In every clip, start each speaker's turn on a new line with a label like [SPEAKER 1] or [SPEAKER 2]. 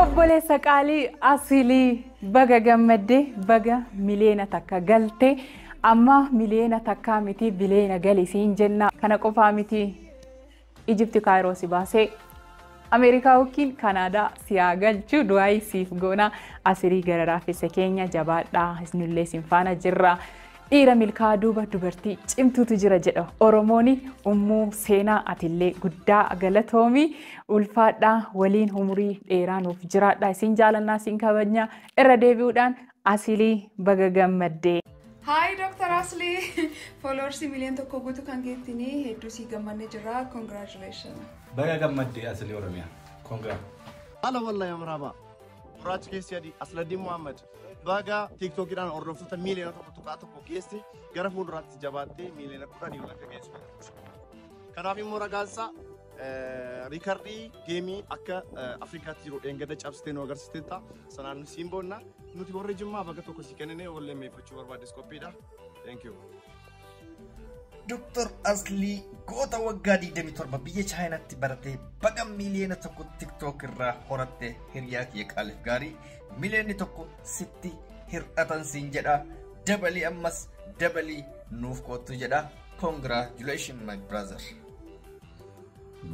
[SPEAKER 1] Obboleessa qaalii asilii baga gammadde baga miliyoona takka galte amma miliyoona takkaa miti biliyoona gali siin jenna kana qofaa miti Ijipti Kaayiroo si baasee. Ameerikaa yookiin Kanaadaa si haa galchu du'aayi siif goona asirii gara raafessa keenya jabaadhaa isnullee sin faana jirra. Dhiira milkaa duuba dubartii cimtuutu jira jedha Oromooni ummuu seenaa atillee guddaa galatoomi ulfaadhaa waliin umurii dheeraa nuuf jiraadhaa isin jaalannaa isin kabajnaa irra deebi'uudhaan Asili baga gammadde. Hi Dr.
[SPEAKER 2] Asli! Followers miliyoon tokko guutuu kan geettini hedduu sii gammanne jirra. Congratulations! Baga gammadde
[SPEAKER 3] Asli Oromiyaa. Congra. Ala wallahi
[SPEAKER 4] amraaba. Gurraachi keessi adii Asladdiin Muhammad baga tiiktookidhaan hordoftoota miiliyoona tokko tuqaa tokko geesse gara fuulduraatti jabaattee miiliyoona kudhanii ol akka geessu. Kanaaf immoo ragaansaa Riikardii geemii akka Afrikaatti jiru dheengadda cabsitee nu agarsiisteetta. Sanaan nu siin boonna. Nuti warri Jimmaa baga tokko si kennine wallee meeffachuu barbaades qophiidha. Thank you. Dr.
[SPEAKER 5] Aslii goota waggaa 27 biyya Chaayinaatti baratee baga miiliyoona tokko TikTok irraa horatte hiriyaa kiyya qaaliif gaarii miiliyoonni tokko sitti hir'atan siin jedha dabalii ammas dabalii nuuf koottu jedha congratulations my brother.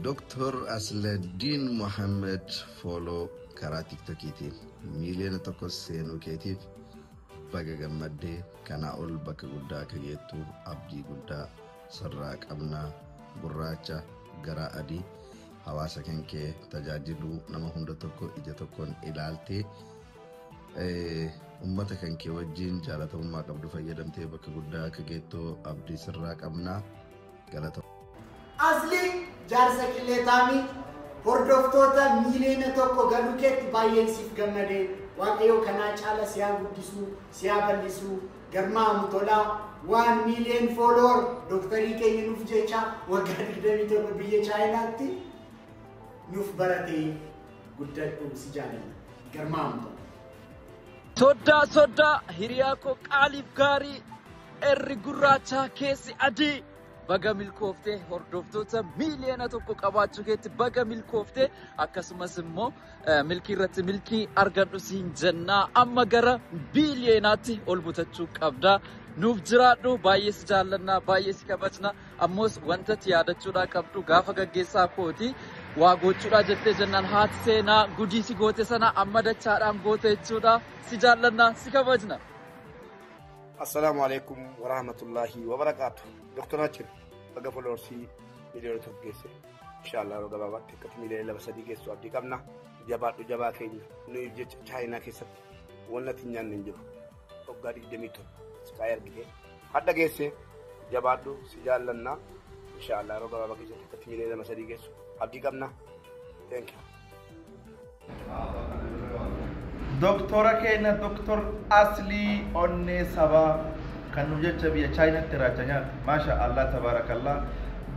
[SPEAKER 5] Doktor
[SPEAKER 6] Asladdiin Mohammed fooloo karaa tiktokiitiin miiliyoona tokko seenuu keetiif baga gammaddee kanaa ol bakka guddaa akka geettu abdii guddaa sirraa qabna gurraacha garaa adii hawaasa kan kee tajaajiluu nama hunda tokko ija tokkoon ilaaltee ummata kan kee wajjin jaalatamummaa qabdu fayyadamtee bakka guddaa akka geettu abdii sirraa qabna. Galato. Asli
[SPEAKER 7] jaarsa killee taami hordoftoota miiliyoona tokko galuu keetti baay'een siif gammade waaqayyoo kanaa caala siyaa guddisuu siyaa bal'isuu garmaamu tolaa waan miiliyoon fooloor dooktarii keenya nuuf jecha waggaa 27 biyya chaayinaatti nuuf baratee guddadhu si jaalladha garmaamu tola.
[SPEAKER 8] Soddaa soddaa hiriyaa koo qaaliif gaarii Irri gurraachaa keessi adii. Baga milkooftee hordoftoota miiliyoona tokko qabaachuu keetti baga milkooftee akkasumas immoo milkii irratti milkii argadhu siin jennaa amma gara biiliyoonaatti ol butachuu qabda. Nuuf jiraadhu baay'ee si jaallannaa baay'ee si kabajna ammoos wanta itti yaadachuudhaa qabdu gaafa gaggeessaa kooti waa gochuudhaa jettee jennaan haati seenaa gudii si goote sana amma dachaadhaan goote jechuudha si jaallannaa si kabajna.
[SPEAKER 4] Assalaamu alaikum warahmatullaahi wabarakaatu. Doktar Achim baga foloorsii miliyoona tokko geesse. Inshaallah yeroo gabaabaatti akkatti miliyoona lama sadii geessu abdii qabna. Jabaadhu jabaa keenya nuyi jecha chaayinaa keessatti wanna ittiin nyaanne hin jiru. Waggaa digdamii torba siqaayee argitee hadha geesse jabaadhu si jaallanna. Inshaallah yeroo gabaabaa keessatti akkatti miliyoona lama sadii geessu abdii qabna. Thank you.
[SPEAKER 5] Doktora keenya Doktor Aslii Onnee Sabaa kan nu jecha biyya Chaayinaatti irraacha nyaata. Maasha Allah tabaarakallah.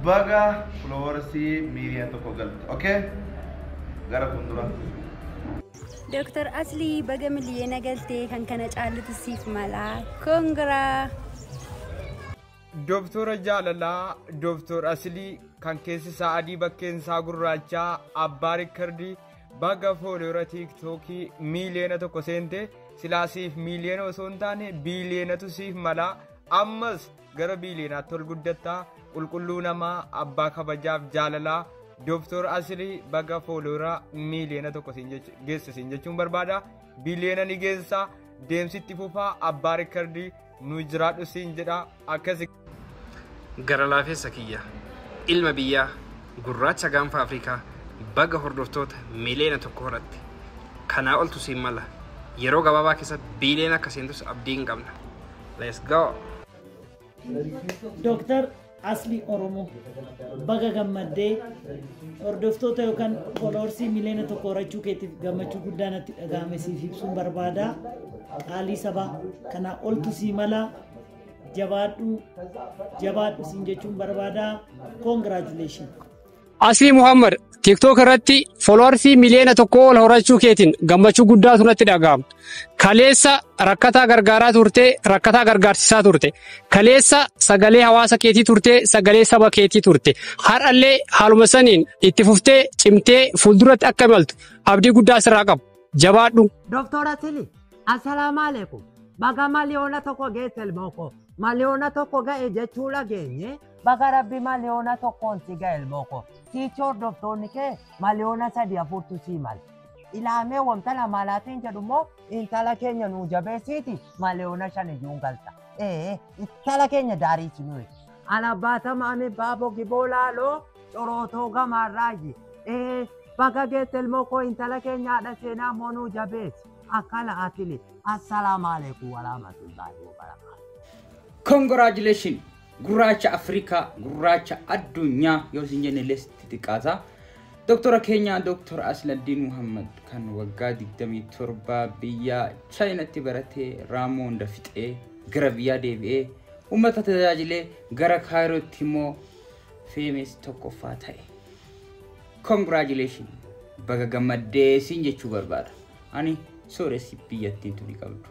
[SPEAKER 5] Baga foloowarsii miiliyoona tokko galte. Okay? Gara fuuldura.
[SPEAKER 9] Doktar Aslii baga miliyoona galtee kan kana caallutu siif mala. Kongiraa!
[SPEAKER 10] Dooftoora jaalalaa, dooftoor asilii, kan keessi isaa adii bakkeen isaa gurraachaa, abbaa rikkardii, baga fooloora tiiktookii miiliyoona tokko seente silaa siif miiliyoona osoo hin taane biiliyoonatu siif mala ammas gara biiliyoonaatti ol guddatta qulqulluu namaa abbaa kabajaaf jaalalaa dooftoor asilii baga fooloora miiliyoona tokko siin jechu- geesse siin jechuun barbaada biiliyoona ni geessa deemsitti fufaa abbaa rikkardii nu jiraadhu siin jedha akkasi.
[SPEAKER 11] Gara laafessa kiyya ilma biyyaa gurraacha gaanfa Afrikaa baga hordoftoota miliyoona tokko horatte kanaa oltu siin mala yeroo gabaabaa keessatti biiliyoona akka seentus abdii hin qabna. Let's go! Dooktar
[SPEAKER 12] Asli Oromoo baga gammaddee hordoftoota yookaan fooloorsii miliyoona tokko horachuu keetiif gammachuu guddaa natti dhaga'ame siif ibsuun barbaada. Qaalii sabaa kanaa oltu sii mala jabaadhu jabaadhu siin jechuun barbaada. Congratulations. Aslii
[SPEAKER 13] Muhammad TikTok irratti fooloowarsii miliyoona tokko ol horachuu keetiin gammachuu guddaatu natti dhaga'ama. Kaleessa rakkataa gargaaraa turte, rakkataa gargaarsisaa turte. Kaleessa sagalee hawaasa keetii turte, sagalee saba keetii turte. Har'allee haaluma saniin itti fuftee cimtee fuulduratti akka imaltu abdii guddaa sirraa qabu. Jabaadhu. Doktor Asili,
[SPEAKER 14] assalaamu alaikum. Baga miliyoona tokko geesse ilmoo koo. Miliyoona tokko ga'e jechuu dhageenye Baga rabbi maliyoona tokkoon si gahe ilmooko. Siichi hordoftoonni kee maliyoona sadii afurtu sii mala. Ilaamee wamtala maalaatiin jedhu immoo intala keenya nuu jabeessiiti maliyoona shan iyyuu hin galta. Ee intala keenya daariichi nuyi. Alabaatama ami baabo giboo laaloo corootoo gamaarraayyi. Ee baga geette ilmooko intala keenya haadha seenaa immoo nuu jabeessi. Akkana akili. Assalaamu alaikum warahmatullahi wabarakatuh. Congratulations!
[SPEAKER 15] Gurraacha Afrikaa, gurraacha addunyaa yoo isin jenne illee sitti xiqqaata. Doktora keenya Doktor Asladdiin Muhammad kan waggaa 27 biyya Chaayinatti baratee raammoo hunda fixee gara biyyaa deebi'ee uummata tajaajilee gara Kaayirootti immoo feemes tokkoffaa ta'e. Congratulations! Baga gammaddee siin jechuu barbaada. Ani sooressi biyyattiin tuni qabdu.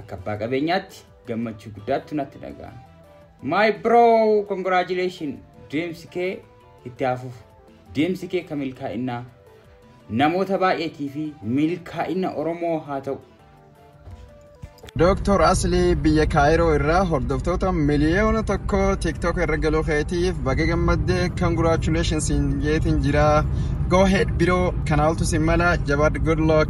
[SPEAKER 15] Akka abbaa qabeenyaatti gammachuu guddaattu natti dhaga'ama. My bro, congratulations! Deemsi kee itti haa fufu. Deemsi kee kan milkaa'innaa namoota baay'eetii fi milkaa'ina Oromoo haa ta'u. Dooktor
[SPEAKER 16] Aslii biyya Kaayiroo irraa hordoftoota miliyoona tokko TikTok irra galuu keetiif baga gammadde congratulations jeetiin jira. Go ahead biroo kana oltu sin mala jabaadhu good luck.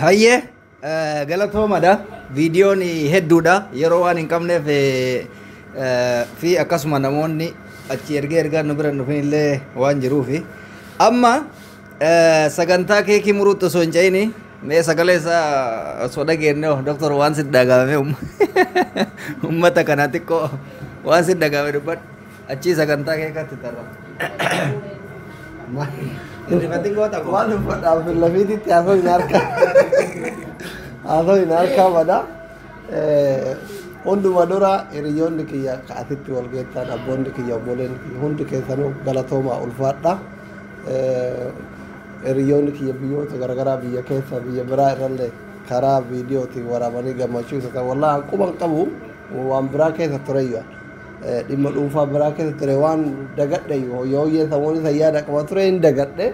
[SPEAKER 5] Hayyee eh, galatoomadha. Viidiyoon hedduudha. Yeroo waan hin qabneef eh, eh, fi akkasuma namoonni achi ergee ergaa nu bira hin dhufin illee waan jiruufi. Amma eh, sagantaa keekii muruutti osoo hin ce'ini mee sagalee isaa osoo dhageenye hoo, doktor waan si dhagaame uummata kana xiqqoo waan si dhagaame dubbadhu. Achii sagantaa kee katti tarra. Rifatiin goota koo. Waan uffadhaaf
[SPEAKER 17] lafiititti haasoo hin harkaa. Haasoo hin harkaa bada. Hunduma dura hiriyoonni kiyya ka asitti wal geettan abboonni kiyya obboleen kiyya hundi keessanuu galatoomaa ulfaadha. Hiriyoonni kiyya biyyoota garaagaraa biyya keessa biyya biraa irrallee karaa viidiyootiin waraabanii gammachuu isa ta'e wallaahi quban qabu waan biraa keessa tureyyuu. dhimma dhuunfaa biraa keessa ture waan dagadhe yooyyee samuun isa yaada qaba ture hin dagadhe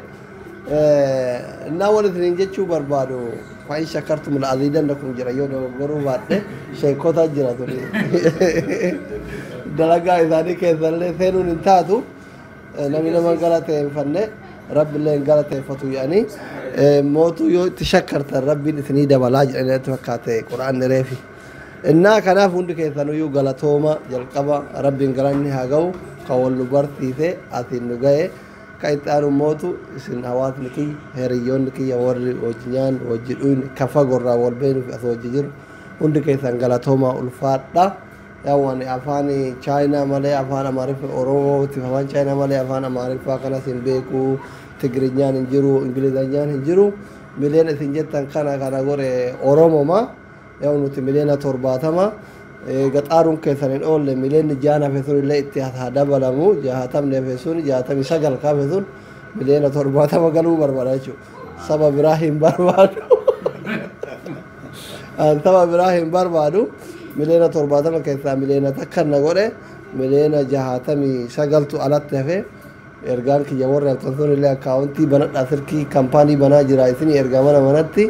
[SPEAKER 17] innaa waan isiniin jechuu barbaadu fa'in shakkartu mila aziidan kun jira yoo dogoggoruu baadhe sheekota jira ture dalagaa isaanii keessallee seenuun hin taatu namni nama galateeffanne rabbillee hin galateeffatu jedhanii mootuu yoo itti shakkartan rabbiin isinii dabalaa jedhanii natti fakkaate qura'aan reefi. Innaa kanaaf hundi keessanuyyuu galatooma jalqaba rabbiin galanni haa ga'u kan wal nu barsiise asiin nu ga'e kan itti aanu mootu isin hawaasni kiyya hiriyyoonni kiyya warri wajji nyaannu wajji dhuyne kan fagoorraa wal beeknu fi as wajji jiru hundi keessan galatoomaa ulfaadha. Yaa'u ani afaan chaayinaa malee afaan amaariffaa oromootiif afaan chaayinaa malee afaan amaariffaa kanas hin beeku tigirinyaan hin jiru ingilizanyaan hin jiru mileen isin jettan kana kana godhe oromoma. Yaa'u nuti miliyoona torbaatama eega xaaruun keessan hin oolle miliyoonni jaan hafe sun illee itti haa dabalamu jaatamni hafe sun jaatamii sagal ka hafe sun miliyoona torbaatama galuu barbaada jechuudha. Saba biraa hin barbaadu. An saba biraa hin barbaadu miliyoona torbaatama keessaa miliyoona takka na godhe miliyoona jaatamii sagaltu alatti hafe. Ergaan kiyya warri argtantoon illee akkaawontii banadhaa silkii kampaanii banaa jiraa isinii ergaa mana manatti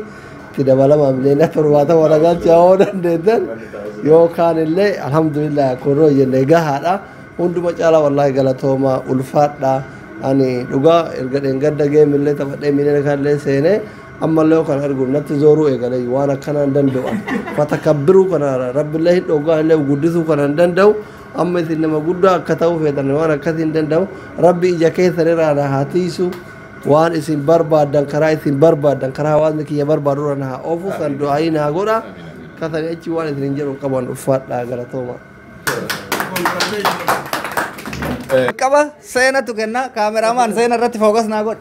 [SPEAKER 17] itti dabalamaa miliyoona torbaatama na galchaa yoo dandeettan yoo kaan illee alhamdulillah kun yoo jenne gahaadha hunduma caalaa wallaahi galatoomaa ulfaadha ani dhugaa erga dheengadda geem illee taphadhee miliyoona kan illee seenee ammallee yoo kan argu natti zooruu eegalee waan akkanaan danda'u fatakabbiruu kana rabbillee hin dhoggaa illee guddisuu kanan danda'u Amma isin nama guddaa akka ta'uu feetan waan akkasii hin danda'u. Rabbi ija keessan irraa na haa tiisu. Waan isin barbaaddan karaa isin barbaaddan karaa hawaasni kiyya barbaadu irra na haa oofu san du'aayii na haa godha. Kasanii achi waan isin hin jedhu qaban uffaadhaa galatooma.
[SPEAKER 5] Qaba seenatu kenna kaameraamaan seena irratti fookas naa godhe.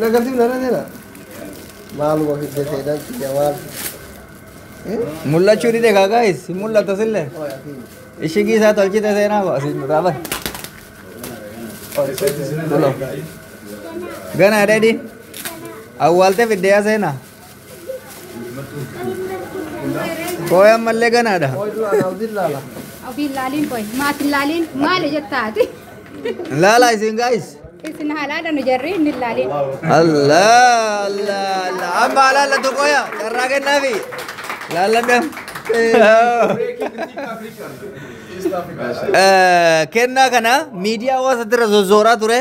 [SPEAKER 17] Nagarsiif nana jira. Maal wafi jetee dhan kiyya maal.
[SPEAKER 5] Mul'achuu dide kaa gaayis hin mul'ata sillee. Ishigii isaa tolchite seenaa koo asiin duraa bar. Kulo. Ganaa dheedhi. Awwaaltee fiddeeyaa seenaa. Kooy ammallee ganaadha.
[SPEAKER 17] Ofiin laaliin
[SPEAKER 9] qoy. Maatiin laaliin maali jettaati? Laalaa
[SPEAKER 5] isin gaayis. Isin haalaadha nu
[SPEAKER 9] jarri inni laaliin. Allah
[SPEAKER 5] Allah Allah. Amma alaalla tokkoya carraa kennaafi. Laalladham. Kennaa kana miidiyaa hawaasaatirra sossooraa ture.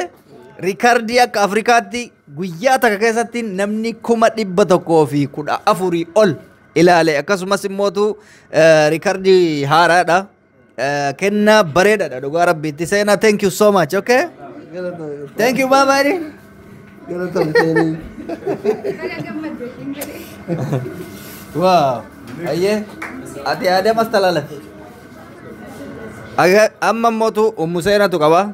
[SPEAKER 5] Riikardii akka Afrikaatti guyyaa takka keessatti namni kuma dhibba tokkoo fi kudha afurii ol ilaale akkasumas immootu riikardii haaraadha. Kennaa bareedaadha dhugaa rabbiitti seenaa thank you so much okay. Thank you bye bye. Wow. Ayyee ati aadamas talaalate. Amma immootu ummu seenatu qaba.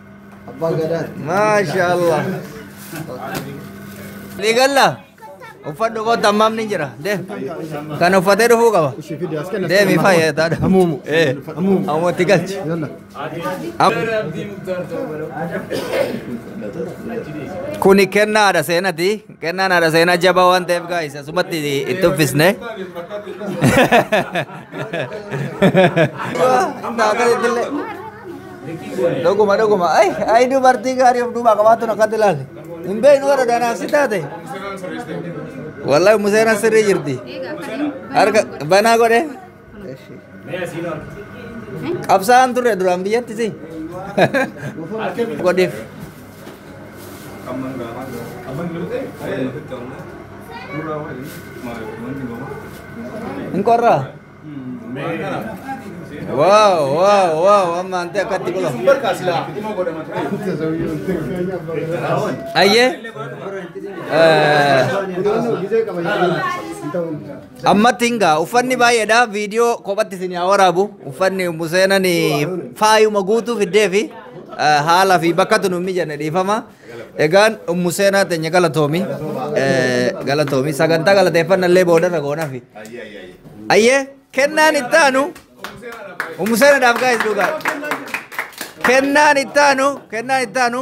[SPEAKER 5] Abbaa
[SPEAKER 17] Gadaa. Maashaallah.
[SPEAKER 5] Ni galla. Uffadhu kootu ammaam ni jira. Deem. Kan uffatee dhufuu qaba. Deemi faayee taadha. Amuumu. Eh. Amuumu. Amuutti galchi. Yalla. Am- Kuni kennaadha seenati. Kennaan haadha seenaa jabaa waan ta'eef gaa'is asumatti itti uffisne. Dhuguma dhuguma ay ay dubartii gaarii of duubaa qabaatun akkatti ilaali. Hin beeknu warra danaaf si taate. Wallahi museenaan sirrii jirti. Harka banaa godhe. Qabsaa'aan turre duraan biyyatti si. Godheef. Hin qorraa? Waaw waaw waaw amma antee akkatti qola. Ayyee. Eh, Ammatti hin ga'a. Uffanni baay'eedha. Viidiyoo kophatti isin yaa waraabu. Uffanni Ummu Seenan faayuma guutuu fiddee fi haala fi bakkatu nu mijanne dhiifama. Egaan Ummu Seenaa teenya galatoomi. Galatoomi. Sagantaa galateeffanna illee boodarra goonafi. Ayyee kennaan itti aanu Ummu Seenaadhaaf gaa'is dhugaa. Kennaan itti aanu kennaan itti aanu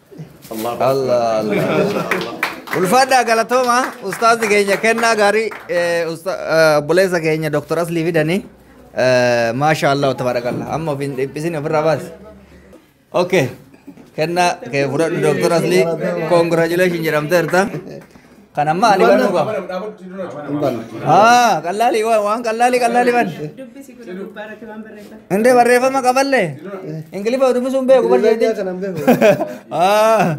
[SPEAKER 18] Allah Allah. Ulfaadhaa galatooma ustaazi keenya kennaa gaarii eh, usta- eh, obboleessa keenya Dr. Aslii fidanii eh, maasha Allah tabarakallah amma ofiin dhiphisin ofirraa baasi. Okay. Kennaa kee fudhadhu Dr. Aslii congratulations jedhamteerta. Kan amma ani banuu qaba. Haa qallaalii waan waan qallaalii qallaalii ban. Dubbisi kun gubbaa irratti waan barreeffame. Indee barreeffama qaballee. Ingiliffa dubbisuun beeku bar Ingilizii jeetii. kana hin beeku. Ah.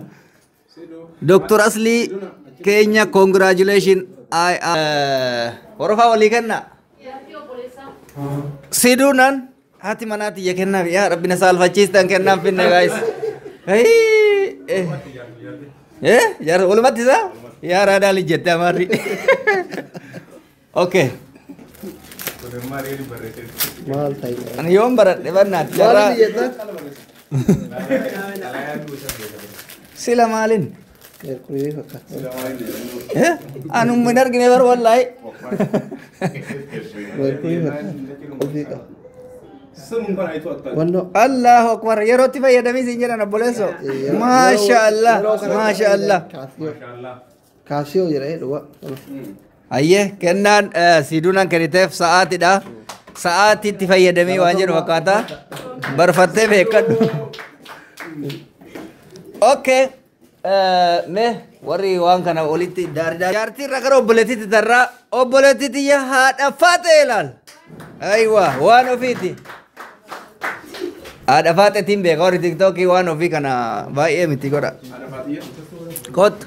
[SPEAKER 18] Dr. Asli Kenya, congratulations. I am. Horofaa walii kenna. Sidunan Haati manaa tiyya kennaaf yaa rabbi na saalfachiistan kennaaf finne gaayis. Jaarsa walumatti isaa yaa raadaa lijjette amaarri. Okay. Maal ta'e? Ani yoon baradhe bannaati. Maal Carraa biyyeetan? sila maalin? Qeerqulee fakkaata. Anumma hin argine bar wallaahi. Qeerqulee fakkaata. Ofii qaba. Wannoo. Allahu akbar yerootti fayyadamii siin jedhan obboleesso. Maasha Allah maasha Allah. Kaasiyoo. Kaasiyoo jedhee dhugaa. Hayyee kennaan siiduunaan kenniteef sa'aatidha. Sa'aatii itti fayyadamii waan jedhu fakkaata. Barfattee beekadhu. Okay. Mee warri waan kana olitti daaridaa. Jaartii irra gara obboleettiitti tarraa obboleettii tiyya haadha faaxee ilaal. Ayiwa waan ofiiti. Haadha faaxeetiin beeka warri tiktookii waan ofii kana baay'ee miti godha. Kottu.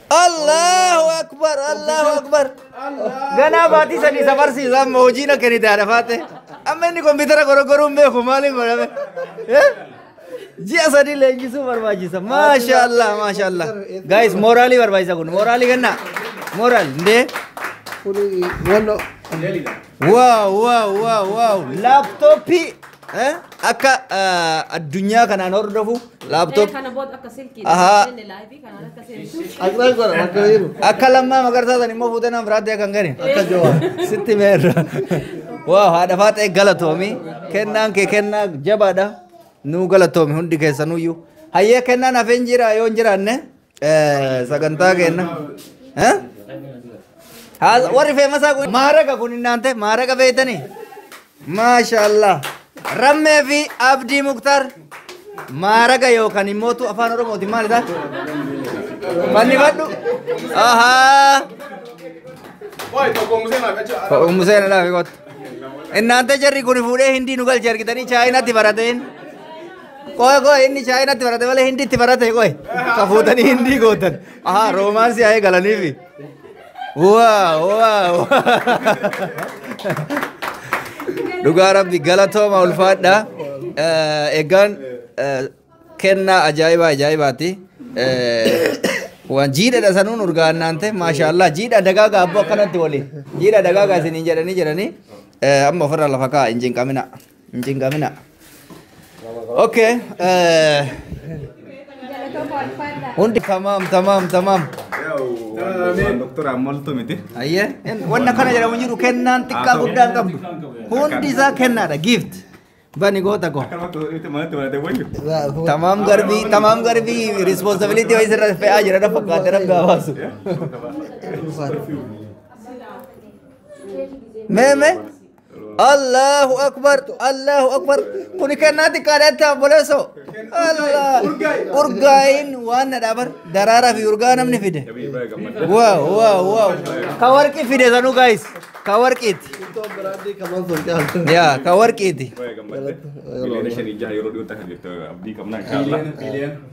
[SPEAKER 18] Allahu akbar Allahu akbar. Ganaa baatii sadii isa barsiisa amma hojii na kennite haadha faate. Amma inni kompiitara goroggoruun beeku maaliin godhame? Eh? Ji'a sadii leenjisuu barbaachisa. Maasha Allah maasha Allah. Guys mooraalii barbaachisa kun mooraalii kennaa. Mooraal ndee. Kuni wallo Waaw waaw waaw waaw laaptooppii eh? akka ah, addunyaa kanaan hordofu laaptoop Kana booda akka silkii. Ahaa. Inni live Akiraan godha bakka jiru. Akka lammaa magarsaa san immoo fuutee nama biraatti akka hin gane. Akka jawaa. Sitti meerra. Waaw haadha faaxee galatoomi. Kennaan kee kennaa jabaadha. Nuu galatoomi hundi keessanuyyuu. Hayyee kennaan hafeen jira yoo hin jiraanne eh, sagantaa keenna. Eh? Haasa- Warri feemasaa kun maaraga kun hin naante maaraga beektanii? Maashaallah. Rammee fi Abdii Muktar maaraga yookaan immoo tu afaan Oromootiin maal isaa? Fannifadhu. Ahaa. Ummu seena laafi kottu. Innaanta jarri kun fuudhee hindii nu galche argitanii chaayinaatti barateen. Qoy qoy inni chaayinaatti barate malee hindiitti barate qoy. Ka fuutanii hindii gootan. Ahaa roomaansii haa eegalaniifi. Waaw waaw. Dhugaa rabbi galatooma ulfaadha. Eh, Egaan eh, kennaa ajaa'ibaa ajaa'ibaati. Eh, Waan jiidhadha sanuun urgaannaan ta'e maashaallah jiidha dagaagaa abboo akkanatti waliin jiidha dagaagaa isiniin jedhanii jedhanii eh, amma ofirra lafa kaa'a hin jinqamina. Hin cinqamina. Okay. eh, Hundi tamaam tamaam tamaam.
[SPEAKER 3] Doktor Amoltu miti. Ayyee hin- wanna
[SPEAKER 18] kana jedhamu hin jiru kennaan xiqqaa guddaa hin qabdu. Hundi isaa kennaadha gift. Bani goota koo. Tamaam garbii tamaam garbii responsibility wayii sirra fe'aa jira dha fakkaate rabbi haa baasu. Mee mee. Allahu akbar Allahu akbar kuni kennaa xiqqaadha itti obboleesso Allah urgaayin waan na dhaabar daraaraa fi urgaa namni fide waaw waaw waaw ka warqii fide sanuu gaayis ka warqiiti yaa ka warqiiti Miliyoona
[SPEAKER 3] shanii jaha yeroo dhiyootti akka jirtu abdii qabna inshaallah.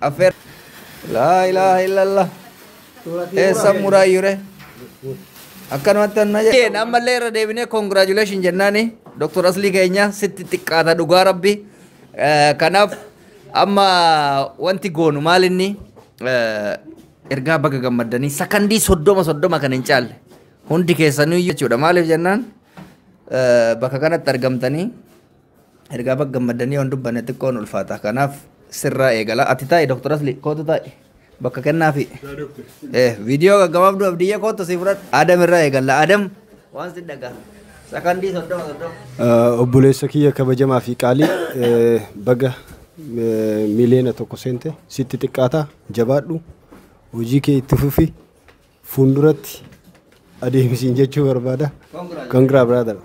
[SPEAKER 18] Affeer. Laa ilaaha illallah. Eessan muraayyure. Akkanumatti anna jedheen ammallee irra deebinee congratulation jennaani Dr. Aslii keenya sitti xiqqaata dhugaa rabbi. Eh, Kanaaf amma wanti goonu maal inni eh, ergaa baga gammaddanii sakandii soddoma soddoma kan hin caalle hundi keessanuu jechuudha maaliif jennaan eh, bakka kanatti argamtanii Ergaa baga gammaddanii yoon dubbanne xiqqoo nu ulfaata. Kanaaf sirraa eegala. Ati taa'i Dr. Asli kootu taa'i. Bakka kennaafi. Eh, viidiyoo gaggabaabduu abdiyyee kootu si fudhadha. Adam irraa eegalla. Adam waan si dhagaa. Sakandii soddoma soddoma. Eh, Obboleessa kiyya
[SPEAKER 19] kabajamaa fi qaalii eh, baga eh, miliyoona tokko seente sitti xiqqaata jabaadhu hojii kee itti fufi Fuulduratti adeemsiin jechuu barbaada. Congrats brother.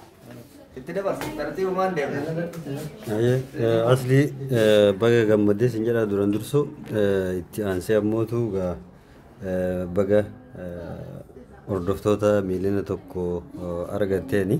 [SPEAKER 19] Itti dabarsu tartiiba maal deemu?
[SPEAKER 20] Asli baga gammadee sin jedha duran dursu itti aansee ammootu gaa baga hordoftoota miiliyoona tokko argatteeni.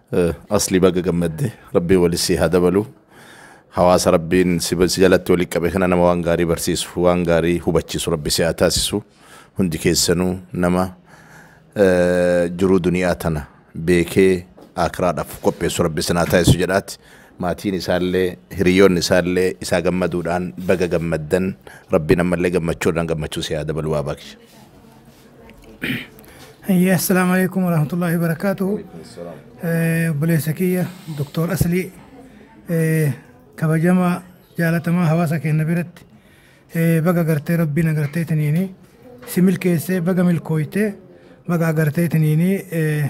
[SPEAKER 21] Asli baga gammadde rabbiin wali si haa dabalu hawaasa rabbiin si si jalatti wali qabe kana nama waan gaarii barsiisu waan gaarii hubachiisu rabbi si haa taasisu hundi keessanuu nama eh, jiruu duniyaa tana beekee aakiraadhaaf qopheessu rabbi isin haa taasisu jedhaati maatiin isaallee hiriyoonni isaallee isaa gammaduudhaan baga gammaddan rabbiin ammallee gammachuudhaan gammachuu si haa dabalu waa baakisha.
[SPEAKER 22] Hayyee assalaamu alaikum warahmatullahi wabarakaatuhu. Eh, Obboleessa kiyya Doktor Aslii eh, kabajamaa jaalatamaa hawaasa keenya biratti eh, baga gartee rabbiin agartee tiniini si milkeessee baga milkooytee baga agartee tiniini eh,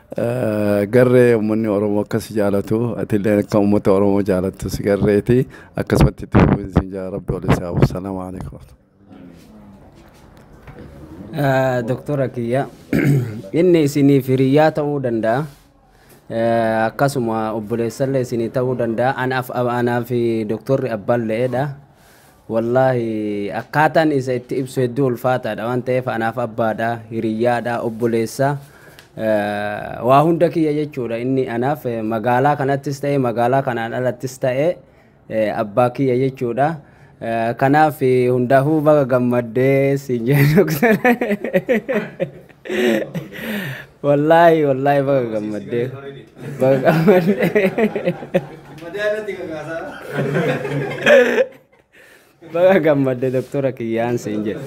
[SPEAKER 20] Garree ummanni Oromoo akka si jaalatu atillee akka ummata Oromoo jaalattu si garreeti akkasumatti itti fufiin siin jaa rabbi wal isaa hafu salaamu alaikum
[SPEAKER 23] Doktora kiyya inni isiniif hiriyyaa ta'uu danda'a. Eh, Akkasuma obboleessallee isinii ta'uu danda'a. Anaaf anaaf doktorri abbaan le'eedha. Wallaahi akkaataan isa itti ibsu hedduu ulfaataadha waan ta'eef anaaf abbaadha, hiriyyaadha, obboleessa eh, waa hunda kiyya jechuudha inni anaaf eh, magaalaa kanattis ta'e magaalaa kanaan alattis ta'e eh, abbaa kiyya jechuudha. Eh, Kanaaf eh, hundaafuu baga gammaddee siin jedhu. Wallaahi wallaahi baga gammaddee. Baga gammaddee. Baga gammadde doktora kiyyaan siin jedhe.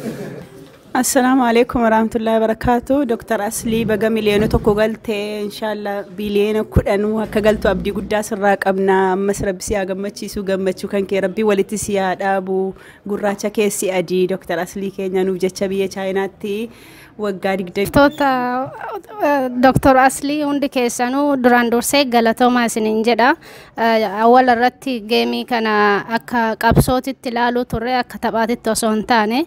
[SPEAKER 1] Assalaamu alaikum warahmatullahi wabarakatuh. Dr. Aslii baga miliyoona tokko galte inshaalla biliyoona kudhanuu akka galtu abdii guddaa sirraa qabna. Ammas rabbi si haa gammachiisu gammachuu kan kee rabbi walitti si haa dhaabu. Gurraacha keessi adii Dr. Aslii keenya nuuf jecha biyya Chaayinaatti waggaa digdamii Toota
[SPEAKER 2] Dr. Aslii hundi keessanuu duraan dursee galatoomaa isiniin jedha. Eh, Awwala irratti geemii kana akka qabsootitti ilaaluu turre akka taphaatitti osoo hin taane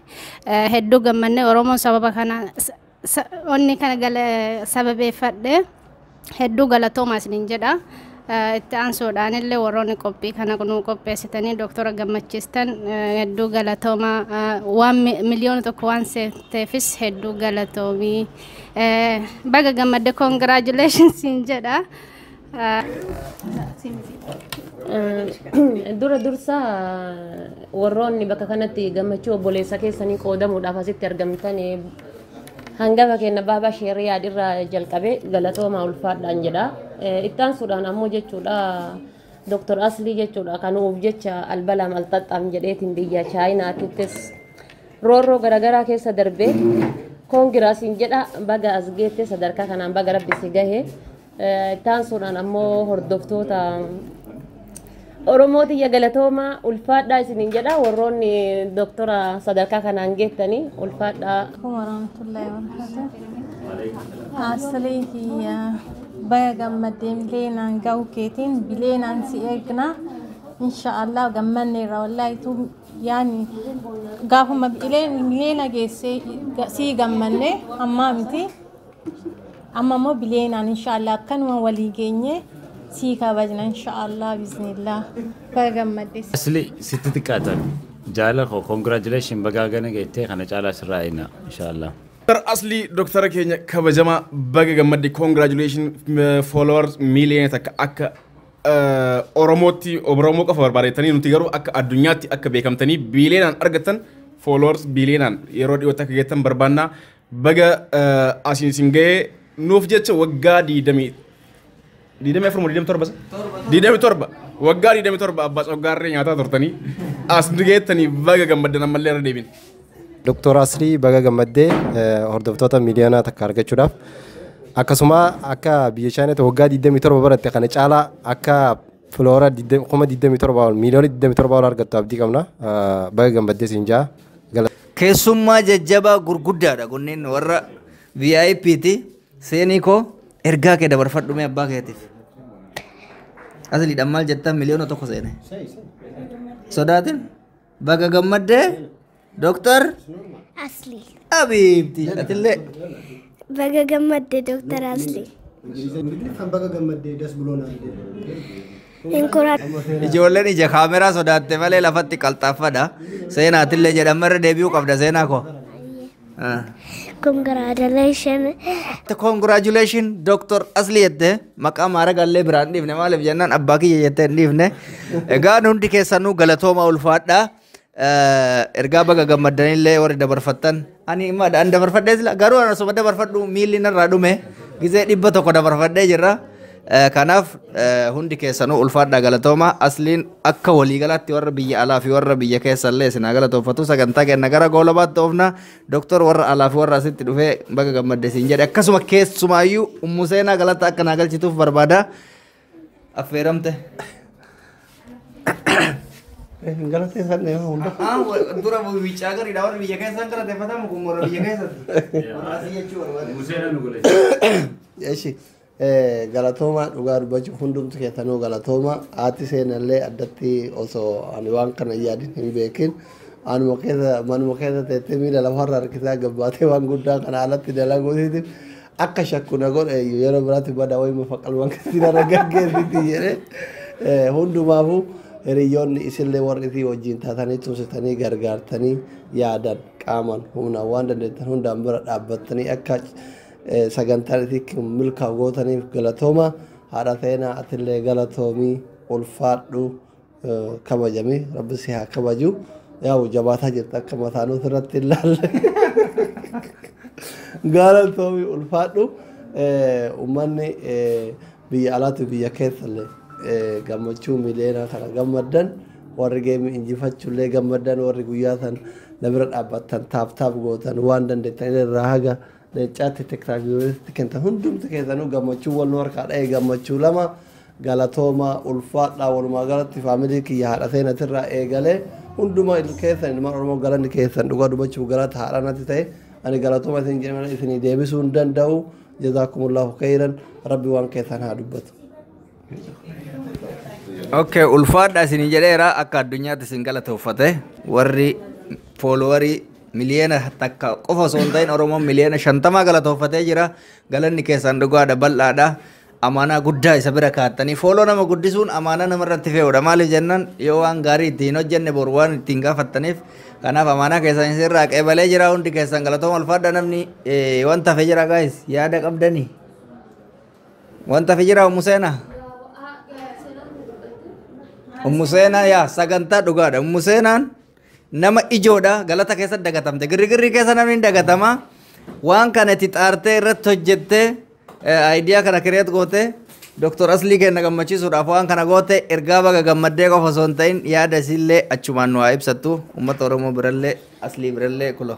[SPEAKER 2] eh, hedduu gammannee Oromoon sababa kana sa- sa- onni kana gala sababeeffadhe. hedduu galatoomaa isiniin jedha. Itti aansuudhaan illee warroonni qophii kana nuu qopheessitanii dooktora gammachiistan hedduu galatoomaa waan miliyoona tokko waan seeteefis hedduu galatoomii. Baga gammadde congratulations siin jedha.
[SPEAKER 6] Dura dursa warroonni bakka kanatti gammachuu obboleessa keessanii qoodamuudhaaf asitti argamtan Hangafa keenya Baabaa Sheeh Riyaad irraa jalqabee galatoomaa ulfaadhaan jedha. Eh, Itti aansuudhaan ammoo jechuudha Dr. Aslii jechuudha kan nuuf jecha albalaam alxaxxaam jedheetiin biyya Chaayinaatittis roorroo garaagaraa keessa darbee koongiraasiin jedha baga as geette sadarkaa kanaan baga rabbi si gahe Itti aansuudhaan ammoo hordoftoota Oromoo tiyya galatoomaa ulfaadhaa isiniin jedha warroonni doktora sadarkaa kanaan geettanii ulfaadhaa. Assalamualaikum warahmatullahi
[SPEAKER 7] wabarakatuh. Aslee kiyya baya gammaddeen bileenaan ga'u keetiin bileenaan si eegna. Inshaallah gammanneerra wallaahi tu yaani gaafuma bileen bileena geessee sii gammanne ammaa miti. Amma immoo biliyeenaan inshaallah akkanuma walii geenye sii kabajna inshaallah biznillah baga gammaddes. Asli sitti
[SPEAKER 24] xiqqaatan jaala koo congratulations bagaa gana geettee kana caalaa sirraa eegnaa inshaallah. Dr Asli
[SPEAKER 16] Dr keenya kabajama baga gammadde congratulation followers million takka akka Oromootti Oromoo qofa barbaadettanii nuti garuu akka addunyaatti akka beekamtanii biileenaan argattan followers biileenaan yeroo dhiyootti akka geettan barbaannaa Baga asiin sin ga'ee nuuf jecha waggaa diidamii diidamii afur moo diidamii torba sa? Diidamii torba waggaa diidamii torba abbaa coggaarree nyaataa turtanii as nu geettanii baga gammaddan ammallee irra deebin. Doktor
[SPEAKER 19] Asrii baga gammaddee hordoftoota miidiyaanaa takka argachuudhaaf akkasuma akka biyya Chaayinaatti waggaa 27 baratte kana caalaa akka filoora 27 ol miiliyoona 27 ol argattu abdii qabna baga gammaddee siin jaa. Keessummaa
[SPEAKER 18] jajjabaa gurguddaadha kunneen warra VIP ti. Seenii koo ergaa kee dabarfadhu mee abbaa keetiif. Asliidhaan maal jettan miliyoona tokko seene. Sodaatin baga gammaddee Dooktar Asli.
[SPEAKER 25] Abiibti
[SPEAKER 18] atillee Baga
[SPEAKER 25] gammadde Dooktar Asli. Kan
[SPEAKER 19] baga gammaddee das buloon argee. hin koratu.
[SPEAKER 18] Ijoolleen ija kaameraa sodaatte malee lafatti qalxaaffadha. Seenaatillee jedhama irra deebi'uu qabda seenaa koo. Ah. Congratulation. Congratulations Dr. Asli jette maqaa maaragallee biraan dhiifne maaliif jennaan abbaa kiyya jettee hin dhiifne. Egaa hundi keessanuu galatooma ulfaadha. ergaa baga gammaddanillee warri dabarfattan ani imma an dabarfadhee sila garuu an osuma dabarfadhu miilli narraa dhume gizee dhibba tokko dabarfadhee jirra Eh, kanaaf eh, hundi keessanuu ulfaadhaa galatoomaa asliin akka waliigalaatti warra biyya alaa fi warra biyya keessallee isin haa galatoofatu sagantaa kenna gara goolabaatti oofna doktor warra alaa fi warra asitti dhufee baga gammadde siin jedhe akkasuma keessumaayyuu ummu seenaa galata akka naa galchituuf barbaada Affeeramte.
[SPEAKER 17] Hin galateeffanne yoo hunda. Ah, wa- dura
[SPEAKER 18] biyya gariidha warri biyya keessaan galateeffatamu kun warra biyya keessatti. Warra asii jechuu barbaade. Museera nu godhe. Eshi
[SPEAKER 17] galatoomaa dhugaa dubbachuuf hundumtu keessanuu galatoomaa haati seenallee addatti osoo ani waan kana yaadin hin beekin anuma keessa manuma keessa teettee miila lafarra harkisaa gabbaatee waan guddaa kana alatti dalaguutiif Akka shakku na godhe iyyuu yeroo biraatti bada wayii mufa qalman kanatti narra gaggeessiti jedhe. Eh, Hundumaafuu hiriyoonni isinlee warri fi wajjin taatanii tumsitanii gargaartanii yaadan qaaman humnaan waan dandeettan hundaan bira dhaabbattanii akka eh, sagantaan isin kun milkaa'u gootaniif galatooma. Haadha Seenaa atillee galatoomii ulfaadhu. kabajame rabbi si haa kabaju yaa'u jabaataa jirta akka mataa nuti irratti hin laalle gaalatoomi ulfaadhu ummanni biyya alaatu biyya keessallee gammachuu miliyoonaa kana gammaddan warri geemi injifachuullee gammaddan warri guyyaa san na bira dhaabbattan taaf taaf gootan waan dandeettan irraa haga Leencaatti Teksaas Yuunivarsiitiitti kennitan hundumti keessanuu gammachuu wal nu harkaa dha'e gammachuu lama galatoomaa ulfaadhaa walumaa galatti faamilii kiyya haadha seenatirraa eegalee hundumaa il- keessan ilmaan Oromoo galanni keessan dhugaa dubbachuuf galata haadha natti ta'e ani galatooma isin jedhe malee isinii deebisuu hin danda'u jazaakumullaahu keeyran rabbi waan keessan haa dubbatu.
[SPEAKER 18] Okay, ulfaadha isin jedheera akka addunyaatti isin galatoofate warri foolowarii miliyoona takka qofa osoo hin ta'in Oromoon miliyoona shantamaa galatoofatee jira. Galanni keessan dhugaadha bal'aadha. Amaanaa guddaa isa bira kaattanii fooloo nama guddisuun amaanaa nama irratti fe'uudha. Maaliif jennaan yoo waan gaarii itti hin hojjenne boru waan itti hin gaafattaniif kanaaf amaanaa keessan isin irraa qeebalee jira hundi keessan galatooma ulfaadha namni eh, wanta hafe jira gaayis yaada qabdanii. Wanta fi jira Ummu Seenaa. Ummu Seenaa yaa sagantaa dhugaadha. Ummu Seenaan nama ijoodha galata keessa dagatamte. Girrigirri keessa namni hin dagatama. Waan kana itti xaartee irratti hojjettee ayidiyaa kana kireet gootee Dr. Aslii kenna gammachiisuudhaaf waan kana goote ergaa baga gammaddee qofa osoo hin ta'in yaada isiillee achumaan nu haa ibsattu uummata Oromoo birallee Aslii birallee kuloo.